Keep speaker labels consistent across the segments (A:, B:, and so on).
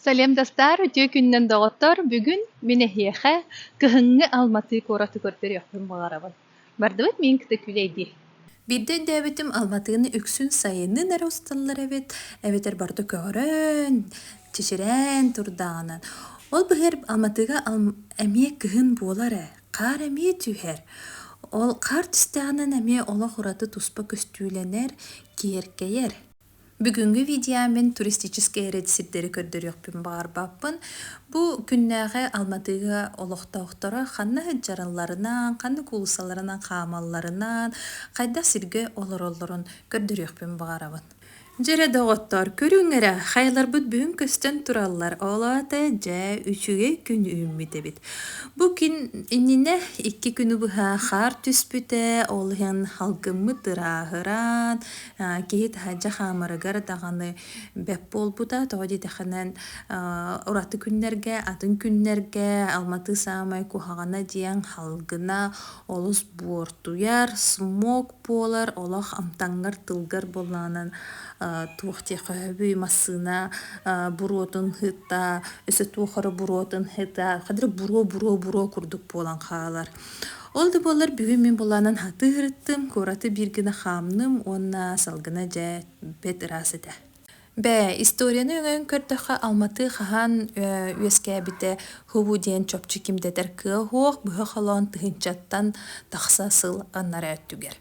A: Салем Дастаар үтүө күнүнэн доҕоттор! Бүгүн мин эһиэхэ кыһыҥҥы Алматы куоратыгар көрүөхпүн баҕарабын. Бардыбыт миин кытта күүлэй дии. Биирдэ өйдөөбүтүм Алматыны үксүн сайынын эрэ усталлар эбит, эбэтэр барыта көҕөрөн, чичирээн турдаҕынан. Ол быһыгар Алматыга Алм- эмиэ кыһын буолар ээ, хаар эмиэ түһэр. Ол хаар түстэҕинэ эмиэ олох ураты туспа көстүүлэнэр, киэркэйэр. Бүгүҥҥү видео мин туристическай эрэт сирдэри көрдөрүөхпүн баҕарбаппын. Бу күннээҕи Алматыга олохтоохторо ханна дьаралларынан, ханнык уулуссаларынан хаамалларынан, хайдах сиргэ олороллорун көрдөрүөхпүн баҕарабын. Дьэрэ доҕоттор, көрүҥ эрэ, хайаларбыт бүгүн көстөн тураллар. Ол аата дьэ үчүгэй күн үүммүт эбит. Бу күн иннинэ икки күнү быһа хаар түспүтэ, ол иһин халгыммыт ырааһыран, Киһи таһырдьа хаамарыгар даҕаны бэп буолбута, тоҕо диэтэххинэ, ураты күннэргэ, атын күннэргэ Алматы саамай куһаҕана диэн халгына, олус буортуйар, смог буолар, олох амтаҥҥар, тылгар буоллаҕынан туох диэх өһөбүй массыына буруотун ыһыта, өссө туох эрэ буруотун ыһыта, хадырык буруо, буруо, буруо курдук буолан хаалар. Ол да буоллар бүгүн мин булаанан хатыы ырыттым, куораты биир гына хаамным уонна салгына дьэ бэт ыраас этэ. Бээ, историяны өҥөйөн көрдөххө, Алматы хаһан э, үөскээбитэ Хубу диэн чопчу ким дэтэр кыа суох быһа холоон тыһыынчаттан тахса сыл аннара өттүгэр.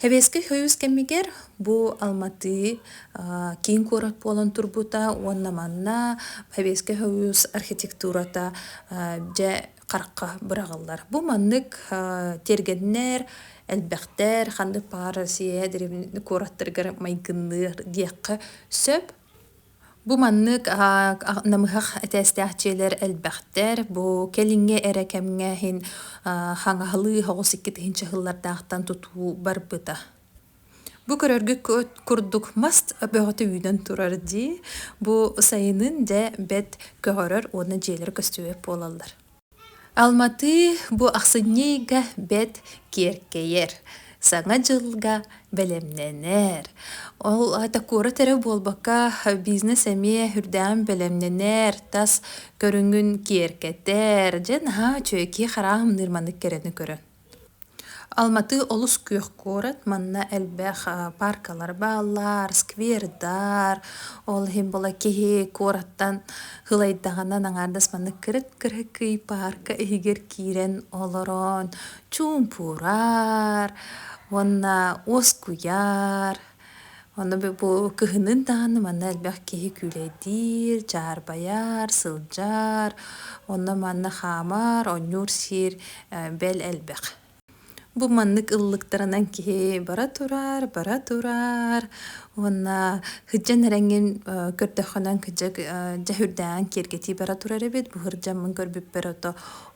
A: Сэбиэскэй союз кэмигэр бу Алматы киин куорат буолан турбута уонна манна Сэбиэскэй союз архитектурата дьэ харахха быраҕыллар. Бу маннык тиэргэннэр элбэхтэр, ханнык баар Россия куораттарыгар майгынныыр диэххэ сөп. Бу маннык намыһах этээстээх дьиэлэр элбэхтэр. Бу кэлиҥҥи эрэ кэмҥэ иһин хаҥаһылыы оҕус иккитиһин чаһыллардаахтан тутуу барбыта. Бу көрөргүт курдук мас бөҕөтө үүнэн турар дии. Бу сайынын дьэ бэрт көҕөрөр уонна дьиэлэр көстүбэт буолаллар. Алматыы бу ахсынньыйга бэрт киэркэйэр, Саҥа дьылга бэлэмнэнэр. Ол аата куорат эрэ буолбакка, бизнес эмиэ үрдээн бэлэмнэнэр, тас көрүҥүн киэркэтэр. Дьэ, наһаа үчүгэйдии хараа хамныыр маннык кэрэни көрөн. Алматы олус күөх куорат, манна элбэх пааркалар бааллар, сквердар, ол иһин була киһи куораттан һылайдаҕына наҥаардас маннык кырык-кырык ый паарка иһигэр киирэн олорон чуумпурар уонна уоскуйар. Ону бу кыһынын даҕаны манна элбэх киһи күлэйдиир, дьаарбайар, сылдьар. Онно-манна хаамар, онньуур сиир, бэл элбэх. Бу маннык ыллыктарынан киһи бара турар, бара турар уонна сыдьан эрэҥҥин көрдөххүнэ кыдьык дьэ үрдээн киэргэтии бара турар эбит. Бу сырдьаммын көрбүппэр ото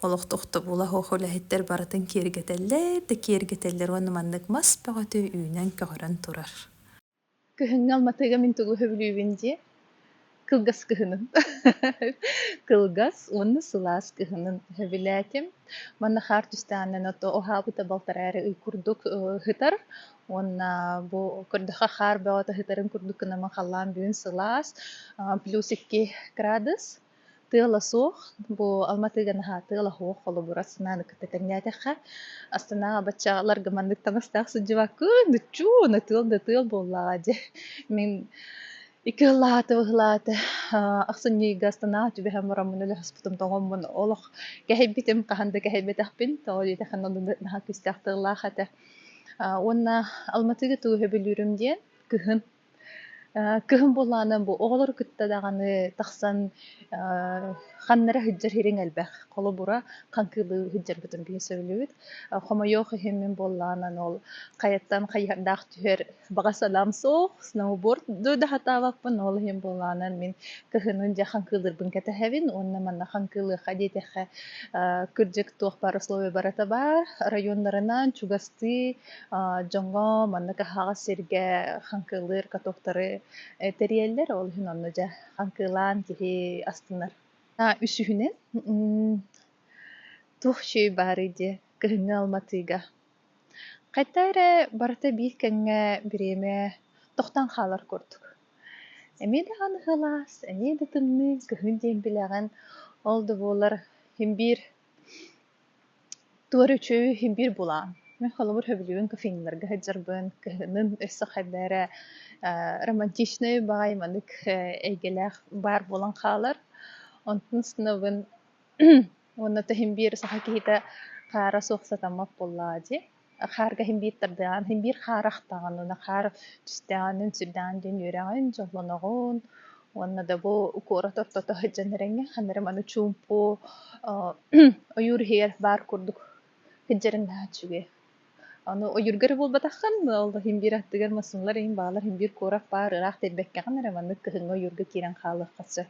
A: олох тохтобула-хоох үлэһиттэр барытын киэргэтэллэр да киэргэтэллэр уонна маннык мас бөҕөтө үүнэн көҕөрөн турар Күһүҥҥү алматыга мин тугу сөбүлүүбүн дии кылгас кыһынын кылгас уонна сылаас кыһынын сөбүлээтим манна хаар түстээннэн ото оһаабыта балтараа эрэ ый курдук ыһытар уонна бу көрдөхө хаар бөҕөтө ыһытарын курдук гынан халаан бүгүн сылаас плюс икки градус тыала суох бу алматыга наһаа тыала суох холобура санааны кытта тэҥнээтэххэ астынаа баччаларга маннык таҥастаах сылдьыбаккын ныччуу на тыал да тыал буоллаҕа дьэ мин икки ыллаата быһылаата ахсын ньыйга астынаа түбэһэн мороммун өлөспутум тоҥоммун олох кэһэйбитим хаһан да кэһэйбэтэхпин тоҕо диэтэххин онно наһаа күүстээх тыллаах этэ уонна алматыга туу сөбүлүүрүм диэн кыһын Кыһын буоллаҕына бу оҕолору кытта даҕаны тахсан ханнара сылдьар сириҥ элбэх. Холобура, хаҥкыылыы сылдьарбытын биһи сөбүлүүбүт. Хомойуох иһин мин буоллаҕына ол хайаттан хайыһардаах түһэр баҕа санаам суох, сноуборд да сатаабаппын, ол иһин буоллаҕына мин кыһынын дьэ хаҥкыылыырбын кэтэһэбин уонна манна хаҥкыылыахха диэтэххэ кырдьык туох баар условия барыта баар, оройуоннарынан чугастыы дьоҥҥо маннык аһаҕас сиргэ хаҥкылыыр катоктары тэрийэллэр, ол иһин онно дьэ хаҥкылаан киһи астынар. Үсүһүнэн, туох чэй баарый дии кыһыҥҥы алматыга. Хайта эрэ барыта биир кэмҥэ бириэмэ тохтон хаалар курдук. Эмиэ даҕаны ылаас, эмиэ да тымныы, кыһын диэн билэҕин. Ол да буоллар, син биир Туора үчүүй, биир булаан. Мин холобур сөбүлүүбүн кофейналарга сылдьарбын, кыһынын өссө хайда эрэ э романтичнай баҕайы маннык эйгэлээх баар буолан хаалар. Онтон ыстынабын уонна тиһим биир саха киһитэ хаара суох сатаммат буоллаҕа дии хаарга һимбиир тардыаҕын һимбиир хаар ахтаҕын уонна хаар түстэҕинин сүрдэҕин диэн үөрэҕин дьоллоноҕун уонна да бу куорат ортото сылдьан эрэҥҥэ ханна эрэ маны чуумпу ойуур иһигэр баар курдук сылдьарын наһаа үчүгэй аны ойуурга эрэ буолбатаххын ол һимбиир аттыгар массыыналар иһин баалар һимбиир куорат баар ыраах тиэрбэккэҕин эрэ маннык кыһыҥҥы ойуурга киирэн хаалыахха сөп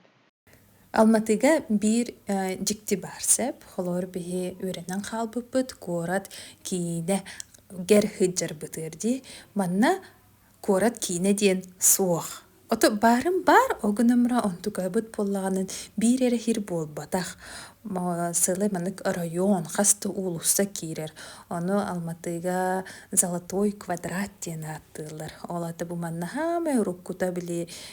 A: Алматыга биир дьикти баар сэп, холоор биһи үөрэнэн хаалбыппыт куорат киинэгэр сылдьарбытыгар дии. Манна куорат киинэ диэн суох. Ото баарын баар, ол гынамра онтукабыт буоллаҕынан биир эрэ иһир буолбатах. Сылы маннык оройуон хас да уулусса киирэр. Ону Алматыга золотой квадрат диэн ааттыыллар. Ол ата бу манна хаамай уруккута били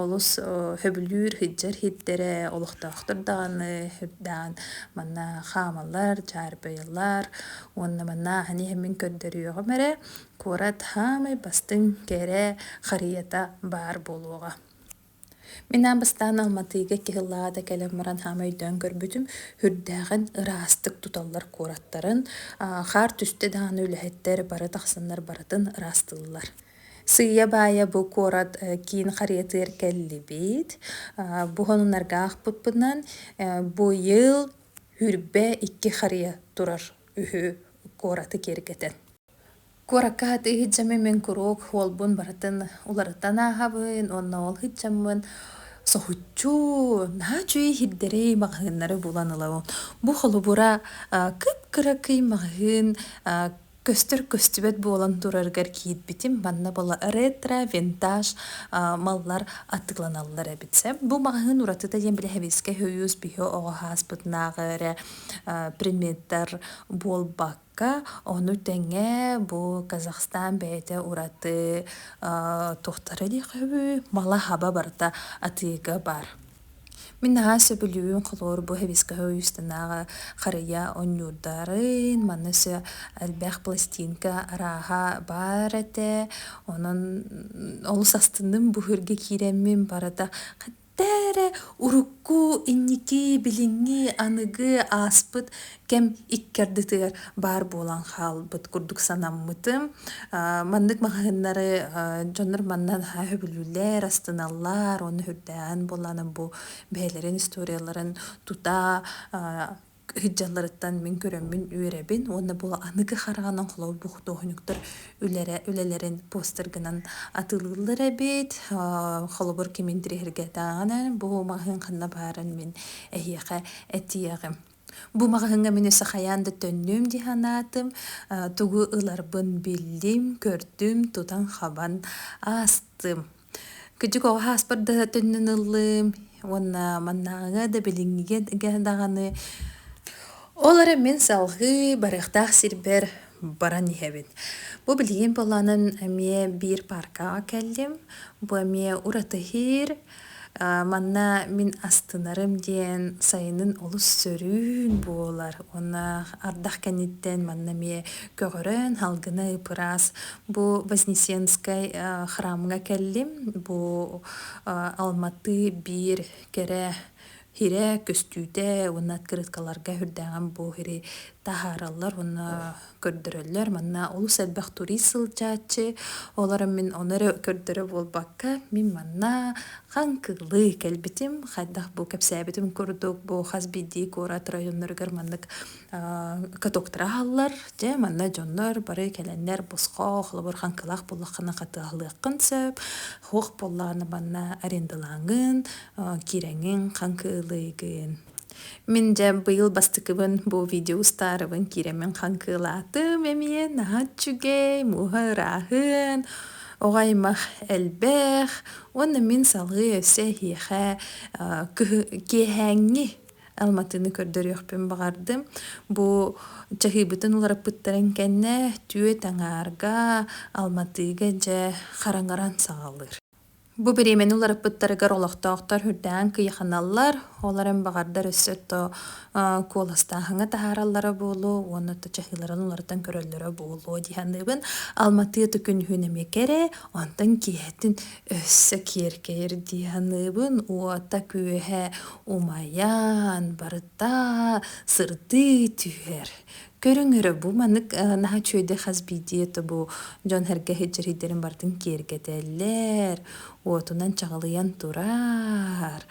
A: Олус сөбүлүүр сылдьар сирдэрэ олохтоохтор даҕаны сирдээн манна хаамаллар, дьаарбайалар уонна манна ааһан иһэн мин көрдөрүөҕүм эрэ куорат саамай бастыҥ кэрэ харыйата баар буолуоҕа. Мин аан бастаан Алматыга икки сыллааҕы да кэлэн баран саамай өйдөөн көрбүтүм үрдээҕин ыраастык туталлар куораттарын хаар түстэ даҕаны үлэһиттэр бары тахсаннар барытын ыраастыыллар Сыыйа-баайа бу куорат киин харыйатыгар кэллибит. Бу хонунарга аахпыппынан бу йыл Үрбэ икки харыйа турар үһү куораты киэргэтэн. Куоракка атыы иһдьэммин мин куруук уолбун барытын уларытан ааһабын уонна ол иһдьэммин соһуччу наһаа үчүгэй иһирдэрэй маҕаһыыннары булан ылабын. Бу холобура кып-кыра кый маҕаһыын көстөр-көстүбэт буолан турарыгар киирбитим манна была ретро винтаж маллар атыыланаллар эбит сэ бу маҕаһыын уратыта диэн били хэбискэ хойуус биһи оҕо хааспытынааҕы эрэ предметтар буолбакка ону тэҥэ бу казахстан бэйэтэ ураты туохтара диэх үһү мала хаба барыта атыыга бар Мин наһаа сөбүлүүбүн холобур бу хибискэһэ уйустанааҕы харыйа онньуурдарын, манна өссө элбэх пластинка арааһа баар этэ. Онон олус астынным, бу үһүргэ киирэммин барыта хэтта эрэ урукку, инники, билиҥҥи, аныгы ааспыт кэм икки ардытыгар баар буолан хаалбыт курдук санаммытым. Маннык маһаһыннары дьоннор манна наһаа сөбүлүүллэр, астыналлар, ону үрдээн буолаанан бу бэйэлэрин историяларын тута ыһыддьалларыттан мин көрөммүн үөрэбин уонна бу аныгы харҕанан холобур бу худуоһунньуктар үлэрэ үлэлэрин постергынан атылыыллар эбит. Холобур кимин тириһиргэтээҕинэн бу маһын ханна баарын мин эһиэхэ этиэҕим. Бу маҕаһыыҥҥа мин өссө хайаан да төннүөм дии санаатым, э, тугу ыларбын биллим, көрдүм, тутан хабан аастым. Күдьүк оҕо ааспар да төннөн ыллым уонна маннааҕыга да билиҥҥигэ даҕаны ол эрэ мин салҕыы барыахтаах сирбэр баран иһэбин. Бу билигин буолаанын эмиэ биир пааркаҕа кэллим. Бу эмиэ уратыһыыр Манна мин астынарым диэн сайынын олус сөрүүн буолар. Уонна ардах кэнниттэн манна эмиэ көҕөрөн салгына ыпыраас. Бу Вознесенскай храмҥа кэллим. Бу Алматы биир кэрэ Хире, көстүүтэ уонна открыткаларга үрдээҕин бу хири таһаараллар уонна көрдөрөллөр. Манна олус элбэх турист сылдьааччы. Олорон мин ону эрэ көрдөрө буолбакка, мин манна хаҥкылыы кэлбитим. Хайдах бу кэпсээбитим курдук, бу хас биирдии куорат районноругар маннык катоктары аһаллар дьэ манна дьоннор бары кэлэннэр босхо холобур хаҥкылаах буллаххына хатыаһылыаххын сөп хуох буоллаҕына манна арендалааҥҥын киирэҥҥин хаҥкыылыыгын мин дьэ быйыл бастакыбын бу видео устаарыбын киирэммин хаҥкыылаатым эмиэ наһаа үчүгэй мууһа ырааһын оҕо аймах элбэх уонна мин салгыы өссө эһиэхэ киэһээҥҥи Алматыны көрдөрүөхпүн баҕардым. Бу чаһыйбытын уларыппыттарын кэннэ түөт аҥаарга, Алматыга дьэ хараҥаран саҕалыыр. Бу бириэмэни уларыппыттарыгар олохтоохтор үрдээн кыйаханаллар. Ол эрэн баҕардар өссө то куоластааһыҥҥа таһаараллара буолуо уонна то чаһыыларын уларытан көрөллөрө буолуо дии саныыбын. Алматы ытык күнүһүн эмиэ кэрэ, онтон киэһэтин Өссө киэркэйэр дии саныыбын, уота күөһэ умайан барыта сырдыы түһэр. Көрүҥ эрэ бу маннык э, наһаа үчүгэй хас биирдии этэ бу дьон сэргэ сирдэрин барытын киэргэтэллэр, уотунан чаҕылыйан турар.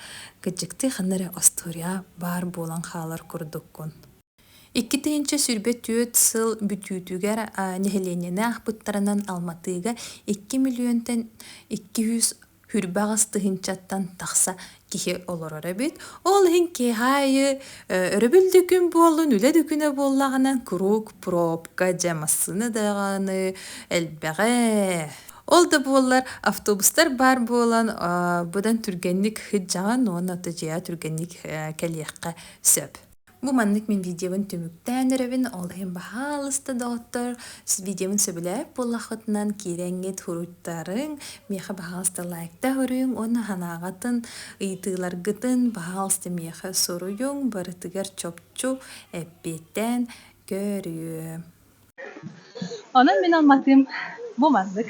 A: Кыдьыктыы ханна эрэ остуоруйа баар буолан хаалар курдуккун. Икки тыһыынча сүүрбэ түөрт сыл бүтүүтүгэр нэһилиэнньэни аахпыттарынан Алматыга икки миллиөнтэн икки жүз хүрбэ аҕыс тыһыынчаттан тахса киһи олорор эбит. Ол иһин киэһэ аайы өрөбүлдүкүн буоллун, үлэ дүкүнэ буоллаҕына куруук пробка, дьэ массыына даҕаны элбэҕэ. Ол да буоллар автобустар баар буолан быдан түргэнник ыһыддьаҕын уонна дьиэҕэ түргэнник кэлиэххэ сөп. Бу маннык мин видеобын түмүктээн эрэбин, ол иһин баһаалыста доҕоттор, видеобын сөбүлээбит буоллаххытынан кирэҥҥит суруйтарыҥ, миэхэ баһаалыста лайкта көрүҥ уонна санааҕытын, ыйытыыларгытын баһаалыста миэхэ суруйуҥ, барытыгар чопчу эппиэттээн көрүө. Онон мин алматым бу маннык.